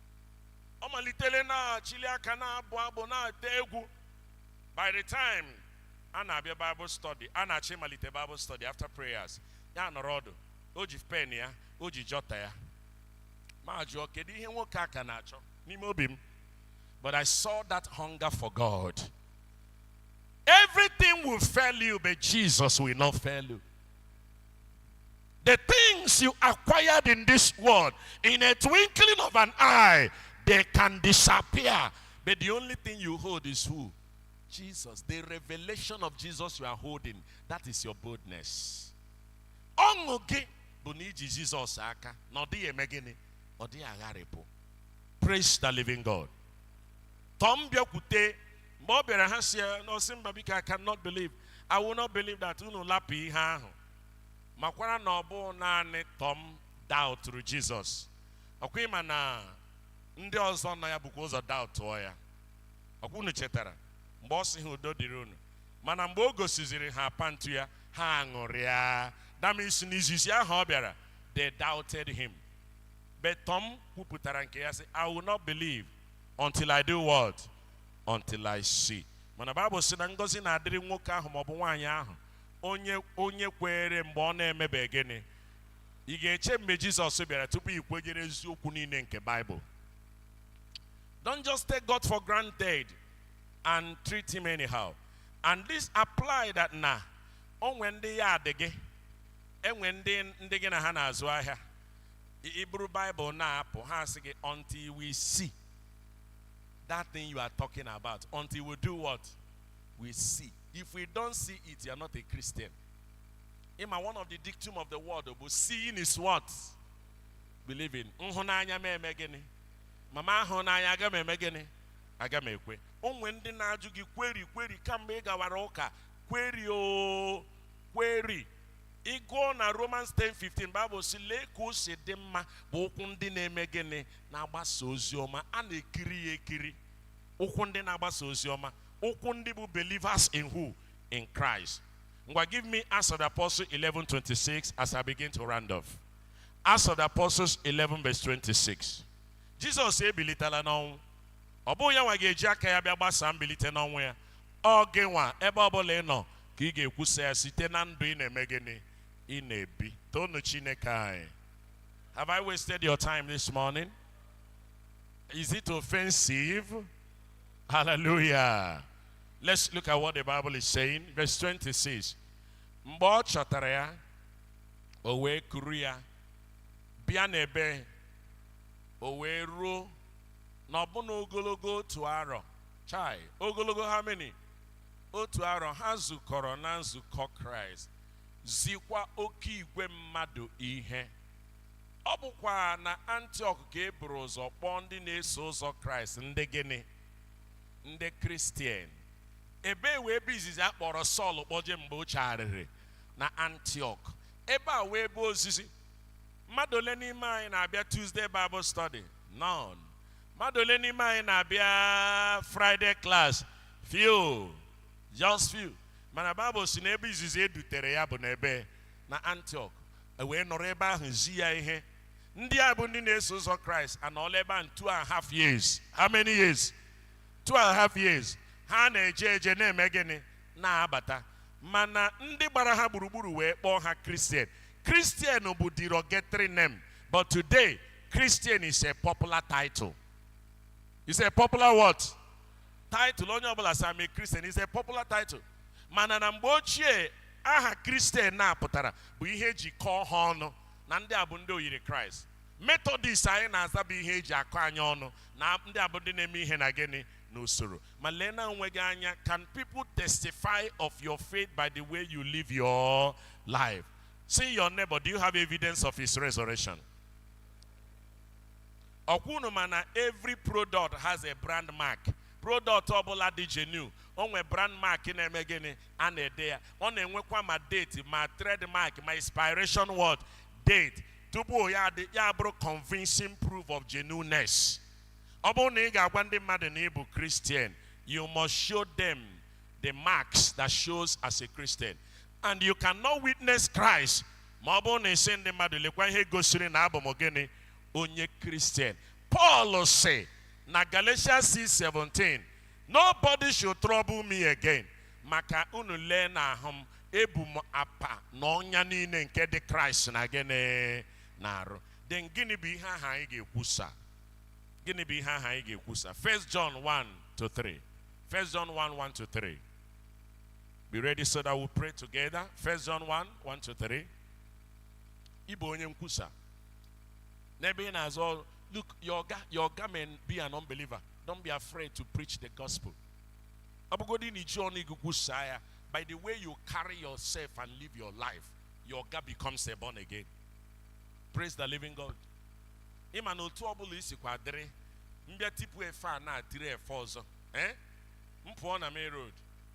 ọ malitere na-achịli aka na-abụ abụ na-ete egwu by the time a na-abịa bible study a na-achọ ịmalite bible study after prayers ya anọrọ ọdụ o ji pen ya o ji jọta ya m ajụọ kedu ihe nwoke a ka na-achọ n'ime obi m but i saw that hunger for god everything will fail you but jesus will not fail you The things you acquired in this world, in a twinkling of an eye, they can disappear. But the only thing you hold is who? Jesus. The revelation of Jesus you are holding, that is your boldness. Ọṅụ gị bụ na i ji Jizọs aka na ọ dịghị eme gịnị? Ọ dịghị agharịpụ. Praise the living God. Tom bịakwute mgbe ọ bịara ha sị ya n'ọ sị mba biko I cannot believe. I will not believe that unu lapụ ihe ahụ. makwara na ọ bụ naanị tọm daụtụrụ jizọs ọkwa ị ma na ndị ọzọ nọ ya bukwa ụzọ daụtụọ ya ọkwa unu chetara mgbe ọ sị ha udo dịrị unu mana mgbe o gosiziri ha apa ntu ya ha aṅụrịa that means na izizi ahụ ọ bịara they doubted him but Tom kwupụtara nke ya sị I will not believe until I do what until I see mana Bible sị na ngọzi na-adịrị nwoke ahụ maọbụ nwaanyị ahụ onye onye kweere mgbe ọ na-emebeghị gịnị ị ga-eche mgbe jizọs bịara tupu ị kwenyere eziokwu niile nke baịbụl don't just take god for granted and treat him anyhow and this apply that na o nwe ndị ya adị gị e nwe ndị gị na ha na-azụ ahịa i buru baịbụl na-apụ ha asị gị until we see that thing you are talking about until we do what we see If we don't see it, you are not a Christian. Ị ma, one of the dictum of the world bụ seeing is what? Believing. M hụ n'anya m eme gịnị? Ma m ahụ n'anya aga m eme gịnị? Aga m ekwe. O nwe ndị na-ajụ gị query query kamgbe ị gawara ụka query o query ị gụọ na romans 10:15 bible sị lee ka o si dị mma bụ ụkwụ ndị na-eme gịnị na-agbasa ozi ọma a na-ekiri ya ekiri ụkwụ ndị na-agbasa ozi ọma ụkwụ ndị bụ believers in who in Christ ngwa give me Acts of the Apostles 11:26 as I begin to round off Acts of the Apostles 11 verse 26 Jizọs ebilitela n'ọnwụ ọ bụghị ya nwa ga-eji aka ya bịa gbasaa mbilite n'ọnwụ ya ọ gị nwa ebe ọbụla ị nọ ka ị ga-ekwusa ya site na ndụ ị na-eme gịnị ị na-ebi toonụ Chineke anyị have I wasted your time this morning is it offensive Hallelujah. Let's look at what the Bible is saying. Verse 26. Mgbe ọ chọtara ya, o wee kuru ya, bịa n'ebe, o wee ruo na ọbụna ogologo otu arọ. Chai, ogologo how many? Otu arọ ha zukọrọ na nzukọ Kraịst, zikwa oke igwe mmadụ ihe. Ọ bụkwa na Antiọk ka e buru ụzọ kpọọ ndị na-eso ụzọ Kraịst ndị gịnị? Ndị Kristian. Ebee wụ ebe izizi a kpọrọ Sọl kpọje mgbe o chegharịrị? Na Antiọk. Ebe a wụ ebe ozizi. Mmadụ ole n'ime anyị na-abịa Tuesday Bible Study? None. Mmadụ ole n'ime anyị na-abịa Friday class? Few. Just few. Mana Bible sị na ebe izizi e dutere ya bụ n'ebe na antiok e wee nọrọ ebe ahụ zi ya ihe ndị a bụ ndị na-eso ụzọ kraịst anọọla ebe ahụ two and half years how many years two and half years ha na-eje eje na-eme gịnị na-abata mana ndị gbara ha gburugburu wee kpọọ ha kristian kristian bụ derogatory name but today kristian is a popular title is a popular what title onye ọbụla sị I'm a kristian is a popular title mana na mgbe ochie aha kristian a pụtara bụ ihe e ji kọọ ha ọnụ na ndị a bụ ndị oyiri kraịst metọdis anyị na-aza bụ ihe e ji akọ anyị ọnụ na ndị a bụ ndị na-eme ihe na gịnị n'usoro ma lee na onwe gị anya can people testify of your faith by the way you live your life sị your neighbor do you have evidence of his resurrection ọ kwa unu ma na every product has a brand mark product ọbụla dị genuine o nwe brand mark na-eme gịnị a na-ede ya ọ na-enwekwa ma date ma trademark ma expiration what date tupu ya adị ya abụrụ convincing proof of genuineness ọ bụrụ na ị ga-agwa ndị mmadụ na ị bụ Christian you must show them the marks that shows as a Christian and you cannot witness Christ ma ọ bụrụ na ị sị ndị mmadụ lekwa ihe gosiri na abụ m gịnị onye kristian Paul sị na Galatia 6:17 nobody should trouble me again maka unu lee na ahụ m ebu m apa na ọnya niile nke dị kraịst na gịnị n'arụ then gịnị bụ ihe ahụ anyị ga-ekwusa gịnị bụ ihe ahụ anyị ga-ekwusa 1 John 1 to 3 1 John 1 1 to 3 Be ready so that we pray together. First John 1, 1 to 3. Ịbụ onye nkwusa. N'ebe ị na-azụ look, your ọga your ọga may be an unbeliever. Don't be afraid to preach the gospel. Ọ bụgodị na iji ọnụ gị kwusaa ya, by the way you carry yourself and live your life, your ọga becomes a born again. Praise the living God. Ị ma na otu ọ bụla i sikwa dịrị, m bịa tipụ efe a na-atiri efe ọzọ. Eh? M pụọ na main road.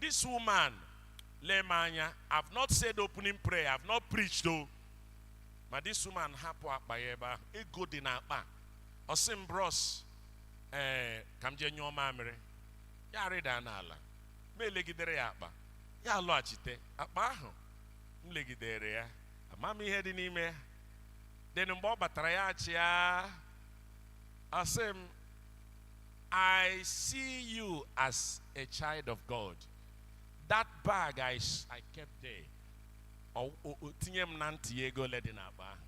This woman, lee m anya, I've not said opening prayer, I've not preached o. Ma this woman hapụ akpa ya ebe ahụ, ego dị n'akpa. Ọ sị m bros, ee, eh, ka m jee nyụọ mamịrị. Ya arịda n'ala, ma elegidere ya akpa. Ya alọghachite, akpa ahụ m legidere ya, ama m ihe dị n'ime ya. Then mgbe ọ batara ya achịa, asị m I see you as a child of God. That bag I, s- I kept there. Ọ- o- o- Tinye m na ntị ya ego ole dị n'akpa ahụ.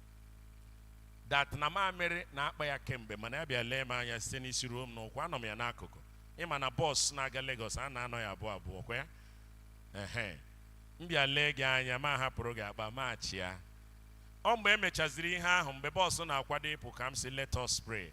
That na mamịrị na-akpa ya kemgbe mana ya bịa lee m anya site n'isi ruo m n'ụkwụ anọ m ya n'akụkụ. Ị ma na bọs na-aga Lagos a na-anọ ya abụọ abụọ kwa ya. Ehe. M bịa lee gị anya mụ ahapụrụ gị akpa mụ achịa. Ọ mgbe e mechaziri ihe ahụ mgbe bọs na-akwado ịpụ ka m sị let us pray.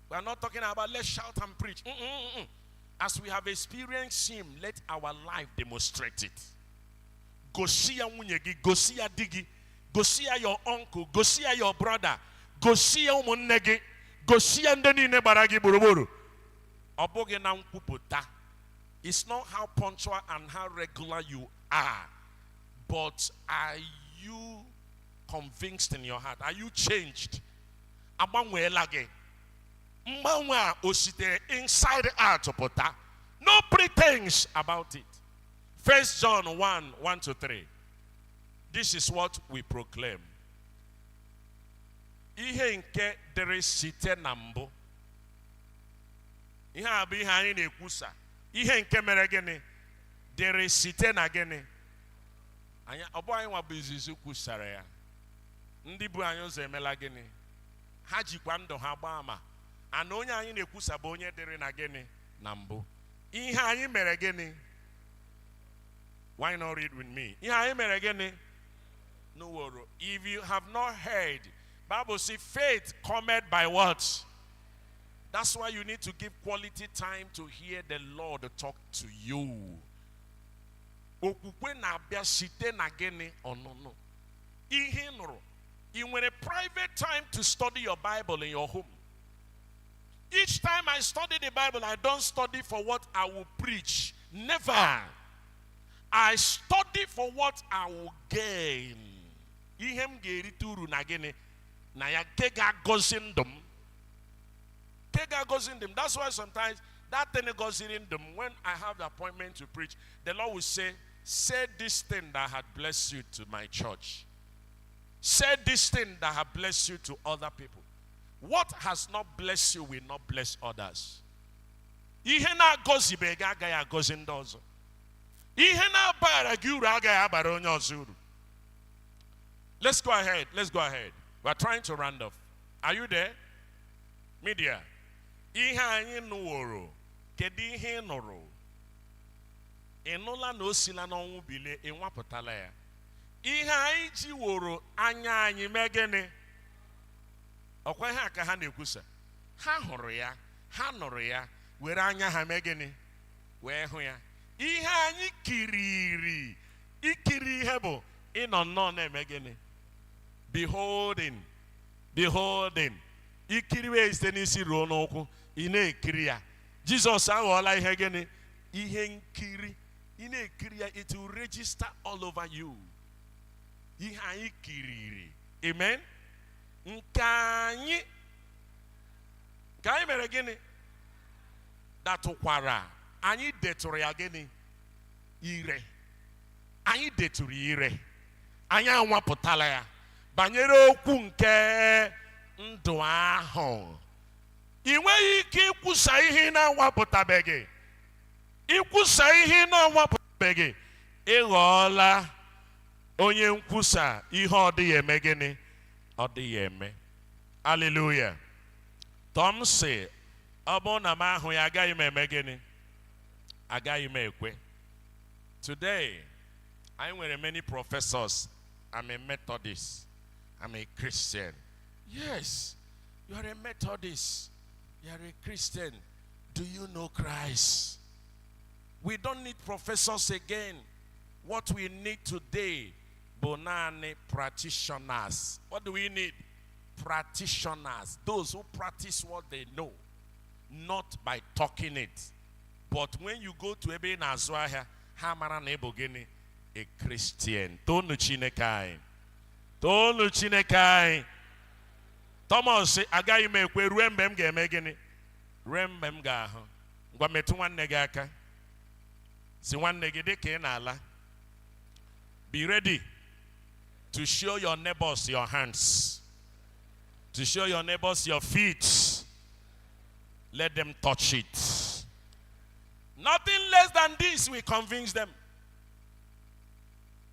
We are not talking about let's shout and preach. Mm -mm -mm. As we have experienced Him, let our life demonstrate it. Gosi ya nwunye gị, gosi ya di gị, gosi ya your uncle, gosi ya your brother, gosi ya ụmụnne gị, gosi ya ndị niile gbara gị gburugburu. Ọ bụghị na nkwupụta. It's not how punctual and how regular you are, but are you convinced in your heart? Are you changed? agbanweela gị mgbanwe a o sitere inside out pụta no pretense about it first john 1 1 to 3 this is what we proclaim ihe nke dịrị site na mbụ ihe a bụ ihe anyị na-ekwusa ihe nke mere gịnị dịrị site na gịnị anyị ọ bụ anyị nwa bụ izizi kwusara ya ndị bu anyị ụzọ emela gịnị ha jikwa ndụ ha gbaa ama and onye anyị na-ekwusa bụ onye dịrị na gịnị na mbụ ihe anyị mere gịnị why not read with me ihe anyị mere gịnị nụworo if you have not heard bible say faith cometh by what that's why you need to give quality time to hear the lord talk to you okwukwe na-abịa site na gịnị ọnụnụ ihe ị nụrụ ị nwere private time to study your bible in your home each time i study the bible i don't study for what i will preach never i study for what i will gain ihe m ga-erite uru na gịnị na ya nke ga-agọzi ndụ m nke ga-agọzi ndụ m that's why sometimes that thing gọziri ndụ m when i have the appointment to preach the lord will say Say this thing that had blessed you to my church. Say this thing that had blessed you to other people. What has not blessed you will not bless others. Ihe na-agọzibeghị agaghị agọzi ndị ọzọ. Ihe na-abara gị uru agaghị abara onye ọzọ uru. Let's go ahead. Let's go ahead. We're trying to round off. Are you there? Media. Ihe anyị nụworo. Kedu ihe ị nụrụ? ị nụla na o sila n'ọnwụ bilie ị nwapụtala ya ihe anyị jiworo anya anyị mee gịnị ọkwa ihe a ka ha na-ekwusa ha hụrụ ya ha nụrụ ya were anya ha mee gịnị wee hụ ya ihe anyị kiriri ikiri ihe bụ ịnọ nnọọ na-eme gịnị beholding beholding ikiriwe site n'isi ruo n'ụkwụ ị na-ekiri ya Jizọs aghọọla ihe gịnị? Ihe nkiri. Ị na-ekiri ya, it will register all over you. Ihe anyị kiriri. Amen. Nke anyị nke anyị mere gịnị? Detụkwara. Anyị detụrụ ya gịnị? Ire. Anyị detụrụ ya ire. Anyị anwapụtala ya banyere okwu nke ndụ ahụ. i nweghị ike ikwusa ihe ị na-anwapụtabeghị ikwusa ihe ị na-anwapụtabeghị ị ghọọla onye nkwusa ihe ọ dịghị eme gịnị ọ dịghị eme aleluya tọmọs sị ọ bụrụ na m ahụ ya agaghị m eme gịnị agaghị m ekwe today anyị nwere many professors I'm a Methodist I'm a Christian Yes, you are a Methodist, you are a Christian. Do you know Christ? We don't need professors again. What we need today, Bonani practitioners. What do we need? Practitioners, those who practice what they know, not by talking it. But when you go to ebe ị na-azụ ahịa, ha mara na ị bụ gịnị? A Christian. Tonu Chineke anyị. toonu chineke anyị tọmọs sị agaghị m ekwe ruo mgbe m ga-eme gịnị ruo mgbe m ga-ahụ ngwa metụ nwanne gị aka sị nwanne gị dị ka ị na-ala be ready to show your neighbors your hands to show your neighbors your feet let them touch it nothing less than this will convince them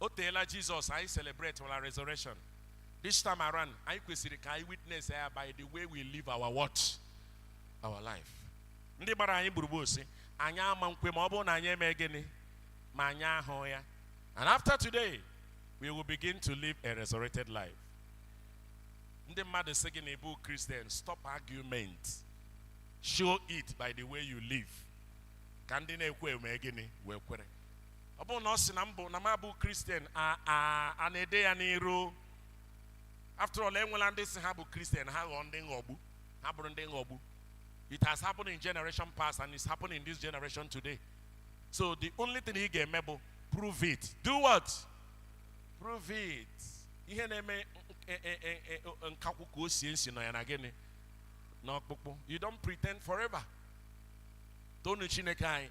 o teela jizọs anyị celebrate wala resurrection this time around anyị kwesịrị ka anyị witness ya by the way we live our what our life ndị gbara anyị gburugburu sị anyị ama nkwe ma ọ bụrụ na anyị eme gịnị ma anyị ahụ ya and after today we will begin to live a resurrected life ndị mmadụ sị gị na ị bụ kristian stop argument show it by the way you live ka ndị na-ekwe eme gịnị wee kwere ọ bụrụ na ọ sị na m bụ na m abụ kristian a na-ede ya n'iru after all e nweela ndị sị ha bụ kristian ha ghọọ ndị nghọgbu ha bụrụ ndị nghọgbu it has happened in generation past and it's happening in this generation today so the only thing ị ga-eme bụ prove it do what prove it ihe na-eme nkakwụ ka o sie nsi nọ ya na gịnị n'ọkpụkpụ you don't pretend forever toonu chineke anyị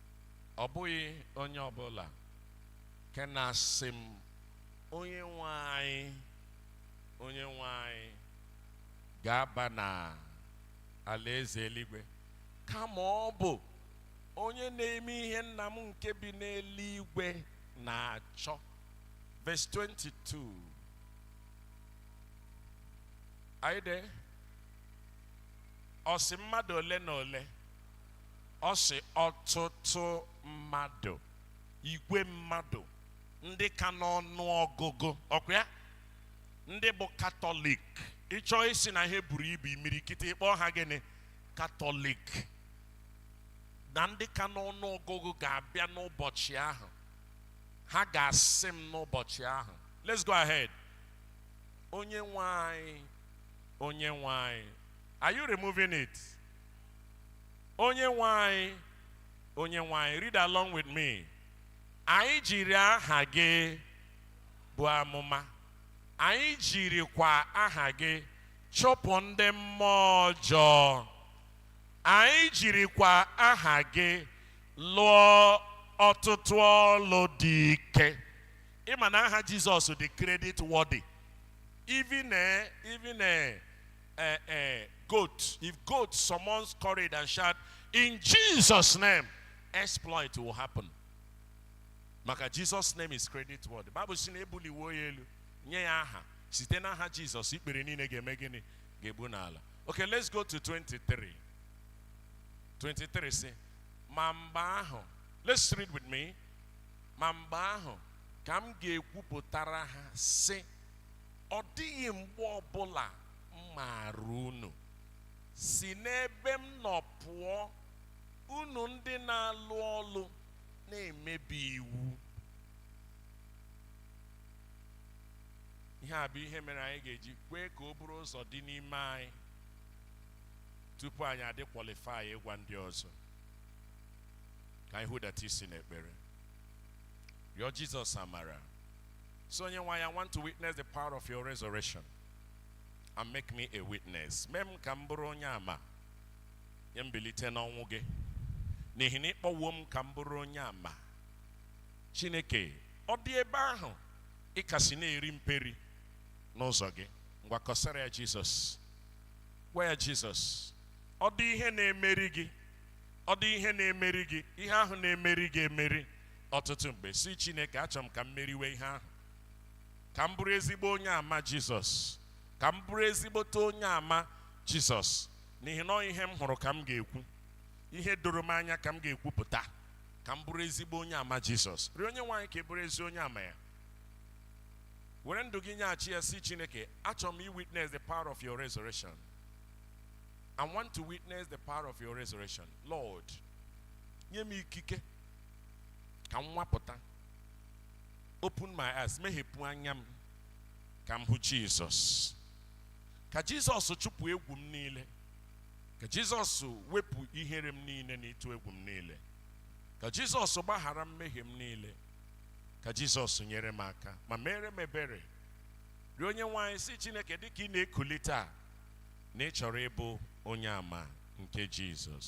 ọ bụghị onye ọbụla nke na-asị m onye nwe anyị onye nwe anyị ga-aba na alaeze eluigwe kama ọ bụ onye na-eme ihe nna m nke bi n'eluigwe na-achọ verse 22 anyị de ọ sị mmadụ ole na ole ọ sị ọtụtụ mmadụ igwe mmadụ ndị ka n'ọnụ ọgụgụ ọkwa ya ndị bụ katọlik ị chọọ ịsị na ihe buru ibu imirikiti ị kpọọ ha gịnị katọlik na ndị ka n'ọnụ ọgụgụ ga-abịa n'ụbọchị ahụ ha ga-asị m n'ụbọchị ahụ let's go ahead onye nwe anyị onye nwe anyị are you removing it onye nwe anyị onye nwe anyị read along with me anyị jiri aha gị buo amụma anyị jirikwa aha gị chụpụ ndị mmụọ ọjọọ anyị jirikwa aha gị lụọ ọtụtụ ọlụ dị ike ị ma na aha jizọs dị credit worthy even eh, even eh, uh, uh, goat, if goat summons courage and shout, in Jesus' name, exploit will happen. Maka Jesus' name is credit worthy. Bible sị na ebuliwo ya elu nye ya aha site n'aha Jizọs ikpere niile ga-eme gịnị ga-egbu n'ala. Okay, let's go to 23. 23 sị ma mgbe ahụ let's read with me ma mgbe ahụ ka m ga-ekwupụtara ha sị Ọ dịghị mgbe ọbụla m maara unu. Si n'ebe m nọ pụọ, unu ndị na-alụ ọlụ na-emebi iwu. Ihe a bụ ihe mere anyị ga-eji kwee ka o buru ụzọ dị n'ime anyị tupu anyị adị qualify ịgwa ndị ọzọ. Ka anyị hudata isi n'ekpere. Rịọ Jizọs amara So, Onyenwe anyị, I want to witness the power of your resurrection and make me a witness. Mee m ka m bụrụ onye ama nye mbilite n'ọnwụ gị n'ihi na ị kpọwo m ka m bụrụ onye ama Chineke ọ dị ebe ahụ ị kasị na-eri mperi n'ụzọ gị ngwa kọsara ya Jizọs gwa ya Jizọs ọ dị ihe na-emeri gị ọ dị ihe na-emeri gị ihe ahụ na-emeri gị emeri ọtụtụ mgbe sị Chineke achọ m ka m meriwe ihe ahụ ka m bụrụ ezigbo onye ama Jizọs ka m bụrụ ezigbote onye ama Jizọs n'ihi na ihe m hụrụ ka m ga-ekwu ihe doro m anya ka m ga-ekwupụta ka m bụrụ ezigbo onye ama Jizọs rịọ Onyenweanyị ka ị bụrụ ezi onye ama ya were ndụ gị nyeghachi ya sị Chineke achọ m iwitness the power of your resurrection I want to witness the power of your resurrection Lord nye m ikike ka m nwapụta open my eyes meghepụ anya m ka m hụ jizọs ka jizọs chụpụ egwu m niile ka jizọs wepụ ihere m niile na ịtụ egwu m niile ka jizọs gbaghara mmehie m niile ka jizọs nyere m aka ma meere m ebere rịọ onyenweanyị sị chineke dịka ị na-ekuli taa na ị chọrọ ịbụ onye ama nke jizọs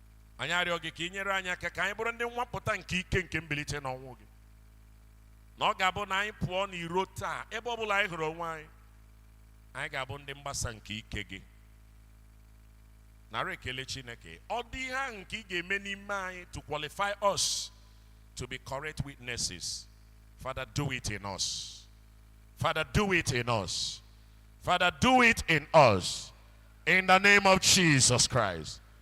anyị arịọ gị ka ị nyere anyị aka ka anyị bụrụ ndị nwapụta nke ike nke mbilite n'ọnwụ gị na ọ ga-abụ na anyị pụọ n'iro taa ebe ọ bụla anyị hụrụ onwe anyị anyị ga-abụ ndị mgbasa nke ike gị nara ekele chineke ọ dị ihe ahụ nke ị ga-eme n'ime anyị to qualify us to be correct witnesses father do it in us father do it in us father do it in us in the name of jesus christ